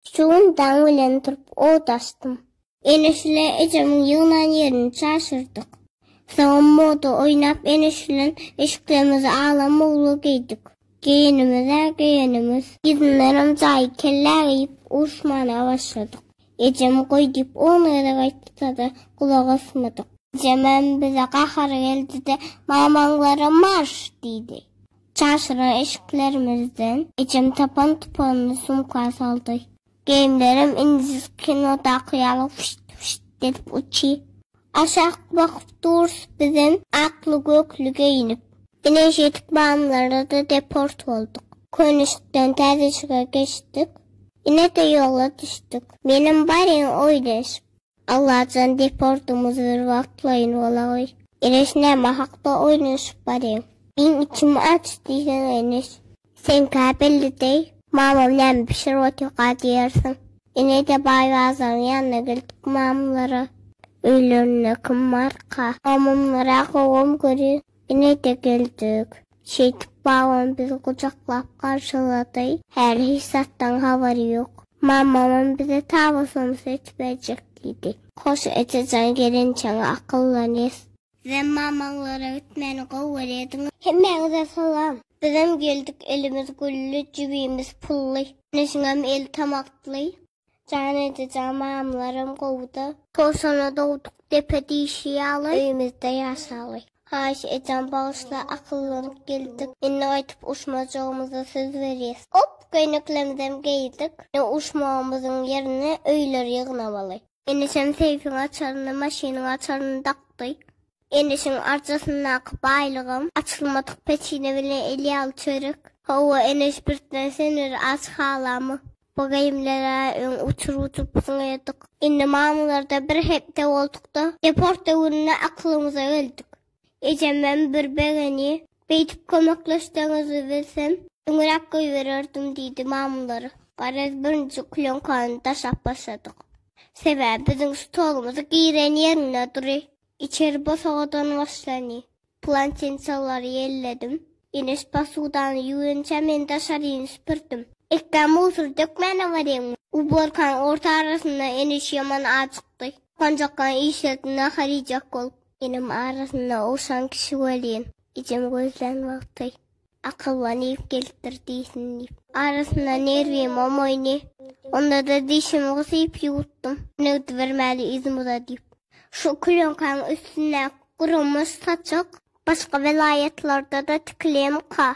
Şu gün daň bilen turup ot açdym. Eneşle ejemiň ýygnan ýerini çaşyrdyk. Soňam moda oýnap Eneş bilen eşiklerimizi agla mogla geýdik. Geýenimiz-ä geýenimiz. Yzyndanam jaýy kellä geýip uruşmana başladyk. Ejem goý diýip on gezek aýtsa-da gulak asmadyk. Ejemem bize gahary geldi-de, Mamaňlara marş! diýdi. Çarşyran eşiklerimizden ejem tapan tupanly sumka saldy. Geýimlerim indis kinodaky ýaly füşt-füşt edip uçy. Aşak bakyp durus bizem akly-gökli geýinip. Ine şeýdip Bamylara-da deport bolduk. Könüşikden täzeşige geçdik. Ine-de ýola düşdük. Menem barýan oýleşip. Allajan deportymyz bir wagtlaýyn bolaý. Eneş näme hakda oýnaşyp baryň. Meň içim aç diýseň Eneş. Seňkä belli deý. Mamam näme bişirip otyrka diýersiň. Ine-de baý bazaryň ýanyna geldik mamlara. Öýlerinde kim barka. Mamam gyrak owam görin. Ine-de geldik. Şeýdip babam bizi gujaklap garşylady. Häli hiç zatdan habary ýok. Mamamam bize taba somsa et berjek diýdi. Hoş eje jan gelinjeňe akyldan es. Sizem mamaňlara gitmäni gowy görýädiňiz. Hemmäňize salam. Bizem geldik elimiz gülli jübimiz pully. Neşiňem eli tamakly. Jan ejejan mamlaram gowuda. Kosana dogduk depe diýşi ýaly öýümizde ýaşaly. Haýyş ejejan bagyşla akyllanyp geldik. Indi gaýtyp uşmajagymyza söz berýäs. Op köýneklemizem geýdik. Indi uşmagymyzyň ýerine öýleri ýygnamaly. Eneşem seýfiň açaryny maşynyň açaryny dakdy. Eneşiň arjasyndaky baýlygam açylmadyk peçine bilen el ýaly çörek. Hawa Eneş birtne seneri aç halamy. Bu geýimleri-ä öň uçurup-uçurypsyň eýerdik. Indi mamlarda bir hepde bolduk-da, deport döwründe aklymyza geldik. Ejemem bir begeni, Beýdip kömekleşseňizi bilsem, öňräk goýbererdim diýdi mamlara. Garaz, birinji klýonkany daşap başladyk. Sebäbi biziň stolumyz giren ýerinde dury, içeri bosagadan başlany. Plantinçalary ýelledim. Enes posudany ýuwunça men daşaryny süpürdim. Ekdä musur dökmäne barýaňmy? Uborkaň orta arasynda Enes ýaman ajykdy. Panjakdan işlet nahar iýjek bolup. Enem arasynda ogşan kişi welin, ejem gözlän wagty. Akylla nirw gelipdir diýsin diýip. Arasynda nirwim omoýny. Onda-da dişimi gysyp ýuwutdym. Negdi bermäli yzym uza diýip. Şu külenkäň üstündäki gurumuş saçak başga welaýatlarda-da tikilemika?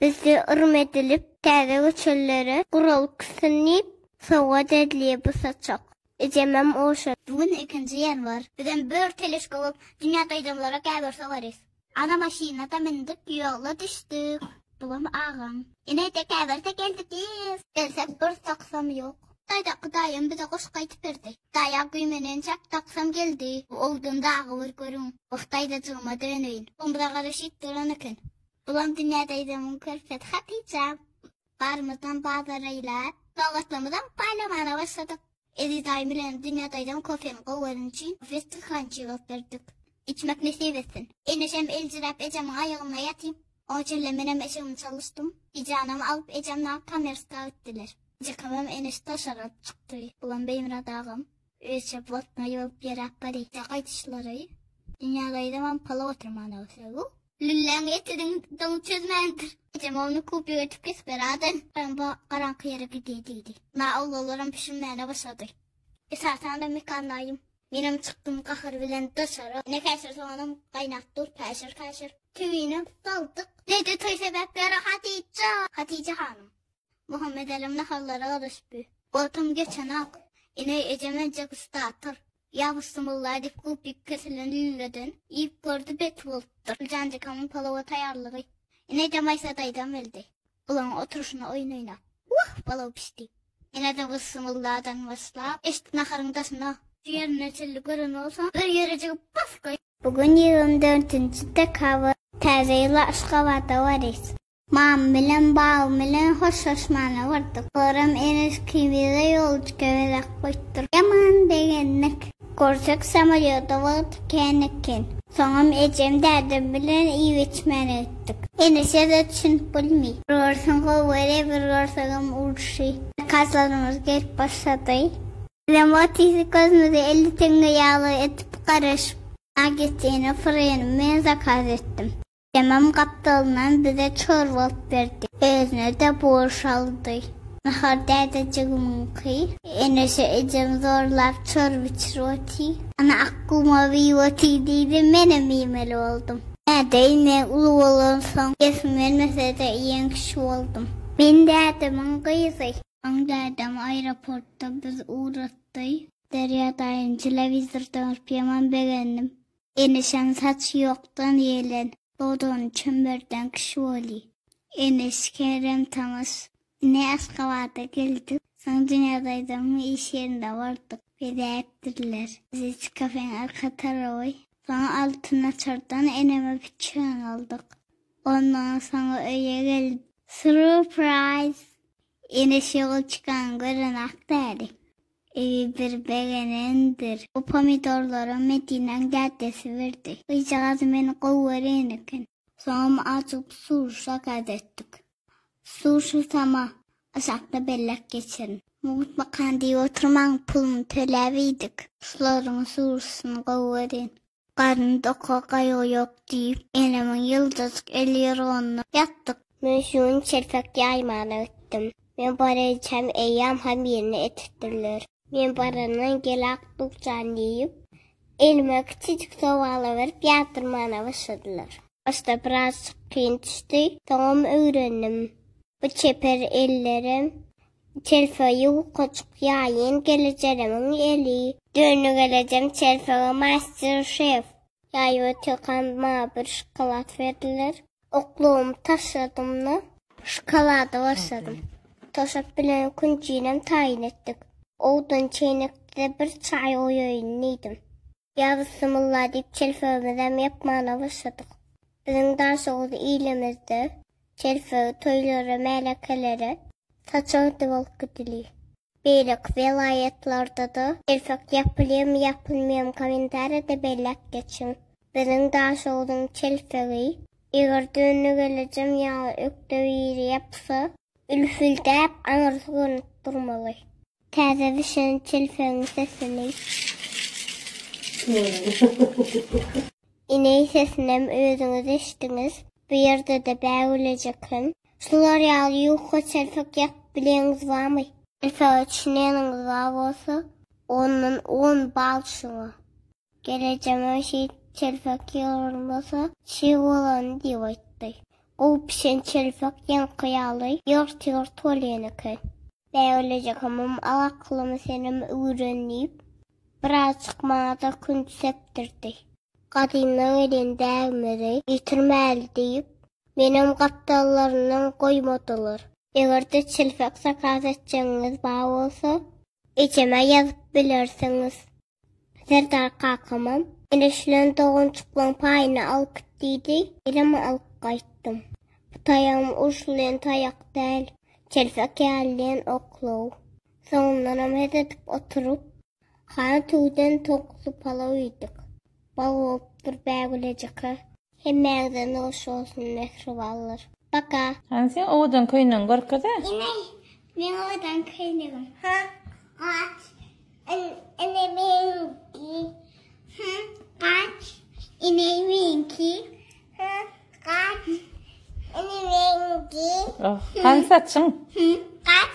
Bizde yrym edilip, täze göçelilere guralyp gitsin diýip, sowgat edilýä bu saçak. Ejemem oşa. Bu gün ikinji ýanwar. Bizem bör teleşka bolup, dünýä gaýdanlara gäwür sogarys. Ana maşynada mündük ýola düşdük. Bulam agam. Ine tekaberde geldik yz. Gelsek bir taksam yok. Daýdaky daýam bize goşgy aýtyp berdi. Daýa güýmenenjek taksam geldi. Bu ogdan dagy bir görüň. Oh daýzajygyma döneýin. Omza garaşyp duran eken. Bulam dünýä daýzamyň körpesi Hatyja. Barymyzam bazara ilat, sowgatlarymyzam paýlamana başladyk. Eziz daýym bilen Dünýä daýzam kofemi gowy göreni üçin Westin Krançy alyp berdik. Içmek nesip etsin. Eneşem eljiräp ejemiň aýagynda ýatyn. Oň içinde menem eşigimi çalyşdym. Bijanam alyp ejemle Kamerska gitdiler. Jekamam Eneşi daşaryk alyp çykdy. Bulam Beýmyrat agam. Rejep wagtyna ýok ýeräp garypda gaýdyşlary. Dünýä gaýdamam pala oturman ogsa bu. Lülläň eti diňi çözmändir. Ejem ony kupik edip kesip berärdi. Garamba garaňky ýere gidi diýdi. Na awlalaram bişirmäne başlady. Esasan-da Mekan daýym. Menem çykdym gahyr bilen daşary. Ne käşir soganam gaýnap dur, päşir-päşir. Tüwini saldyk. Dede toý sebäpli rahat iýip jar. Hatije hanym. Muhammedälim nahallara garaşypy. Wagtym geçenak. Ine, ejem enje gysdatyr. Ýa Bissimylla diýip gulpyk kesilen lüleden iýip gördi beti bolupdyr. Güljanjykamyň palawa taýýarlygy. Ine, ejem Aýsa daýzam geldi. Olaryň oturyşyna oýun oýnap. Wah, palaw bişdi. Ine-de Bissimylladan başlap, eşik naharyň daşyna. Ýerine çilli gören bolsaň, bir ýere jigip bas goý. Bu gün ýigrimi dörtünji dekabr. Täze ýyla Aşgabada barys. Mama bilen baba bilen hoşlaşmana bardyk. Soram ereski bize ýolçyka bezek goýupdyr. Ýaman begendik. Görsek samolýoda wagt kän eken. Soňam ejem dädem bilen iýip-içmäne gitdik. Enese-de düşünip bilmi. Bir görseň gowy görýä bir görseňem urşy. Zakazlarymyz gelip başlady. Bizem otyrys gözümizi elli teňňe ýaly edip garaşyp. Bagetini, fryny men zakaz etdim. Emem gapdalyndan bize çorba alyp berdi. Özüne-de borş aldy. Nahar dädejigimiňki. Enişe ejem zorlap çorba içirip otyr. Ana Akgumam iýip otyr diýdi, menem iýmeli boldum. Däde ine uly bolansoň, iýesim gelmese-de iýen kişi boldum. Men dädemiň gyzy. Soň dädem aeroportda bizi ugratdy. Derýa daýyny telewizordan görüp ýaman begendim. Eneşem saçy ýokdan ýelen. Dodany çemberden kişi bolý. Eneş Kerem tanys. Ine Aşgabada geldik. Soň Dünýädaýzaň iş ýerinde bardyk. Bezäpdirler. Biz kafeň arka tarawy. Soň Altyn açardan eneme piçeň aldyk. Ondan soň öýe geldik. Surprise! Eneş ýola çykanyny görenak däli. Eý, bir begenendir. Bu pomidorlara Medinäň dädesi berdi. Gyzjagaz meni gowy gören eken. Soňam azyk suw şakat etdik. Suw şytama, aşakda bellek geçirin. Mugt bakan diýip oturmaň, puluny töläp iýdik. Şularyň suwşysyny gowy gören. Garny doka, gaýgy ýok diýip. Elimiň ýyldyzyk elýyrgynda ýatdyk. Men şuny çelpek ýaýman ötdüm. Men barýançam eýýäm ham ýerine etipdirler. Men barandan gel-ak duk jan diýip. Elime kiçijik sobala berip ýatyrmana başladylar. Başda birazjyk kyn düşdi, soňam öwrendim. Bu çeper ellerem, Çelpege ýukaçyk ýaýyn gelejeremiň eli. Döne gelejem çelpege master şef. Ýaý we tökan maňa bir şokolad berdiler. Oklugymy taşladym-da. Şokolady başladym. Toşak bilen künjinem taýyn etdik. Owdan çeýnekde bir çaý goýaýyn diýdim. Ýa Bissimylla diýip çelpegimizem ýapmana başladyk. Biziň Daşoguz ilimizde çelpegi toýlara, märekelere saçagdy bolup gidilýär. Beýleki welaýatlarda-da çelpek ýapylýarmy, ýapylmaýarmy kommentariýada belläp geçiň. Biziň Daşoguzyň çelpegi eger dönüne gelejem ýaly ökde biri ýapsa, ülfüldäp aňyrsy görnüp durmaly. Täze düşen telpegiň sesini. Ineý sesinem özüňiz eşdiňiz. Bu ýerde-de bägülejekem. Şular ýaly ýuka telpek ýakyp bileňiz bamy? Esawy çineniňiz bar bolsa, ondan on bal şuňa. Gelejeme şeýt çelpek ýygranmasa, çig bolany diýip aýtdy. Gowy pişen çelpek ýaňky ýaly ýygyrt-ýygyrt bolýan eken. Bägülejik hamam al akylymy senem öwren diýip, birazjyk maňa-da kün sepdirdi. Gadymdan gelen däbimizi ýitirmäli diýip, menem gapdallaryndan goýmadylar. Eger-de çelpek zakaz etjegiňiz bar bolsa, ejeme ýazyp bilersiňiz. Serdar kakamam, Ereşlen doganjyklaň paýyny alyp git diýdi, birem alyp gaýtdym. Bu taýagym uruş bilen taýak däl, çelpek ýalydan oklaw. Soňundanam het edip oturyp, hany tüwden towukly palaw iýdik. Bag bolup dur Bägülejikler. Hemmäňize noş bolsun mähribanlar. Paka. Hany seň owadan köýnegiň görkeze. Ine meň owadan köýnegim. Hä gaç ine meňki. Hä gaç ine meňki. Hä gaç ine meňki. Oh hany saçyň. Hä gaç.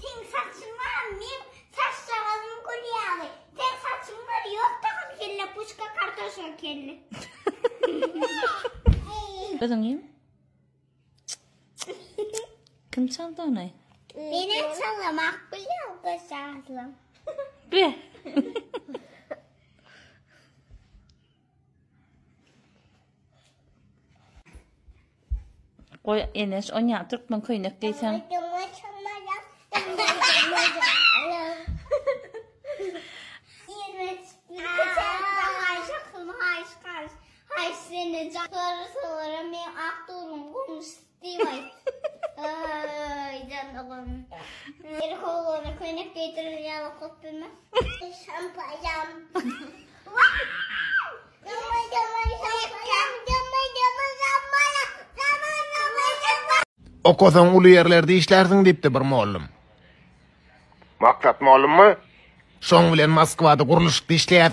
Seň saçyň baram meň saçjagazym gül ýaly seň saçyň bar ýok takyn kelle puşka kartoşka kelle. Özüňem? Kim çaldy ony? Meni çalmak bilýär göçäzlim. Be. Goý Eneş, onýa türkmen köýnek geýseň. Okasaň uly ýerlerde işlärsiň diýipdi bir mollum. Maksat mollummy? Şoň bilen Moskwada gurluşykda işleýäs.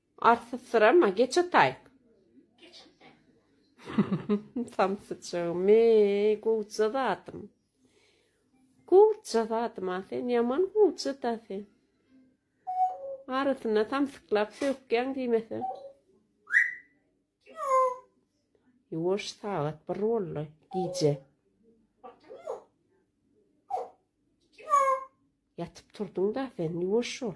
Arsyzsyrama, geç otaý. Geç otaý. Samsyjygym, eý, gowja zadym. Gowja zadym, a sen ýaman gowja-da sen. Arasyna samsyklap sökýäň diýmese. Ýuwaş sagat bir boldy, gije. Ýatyp turduň-da sen, ýuwaş ol.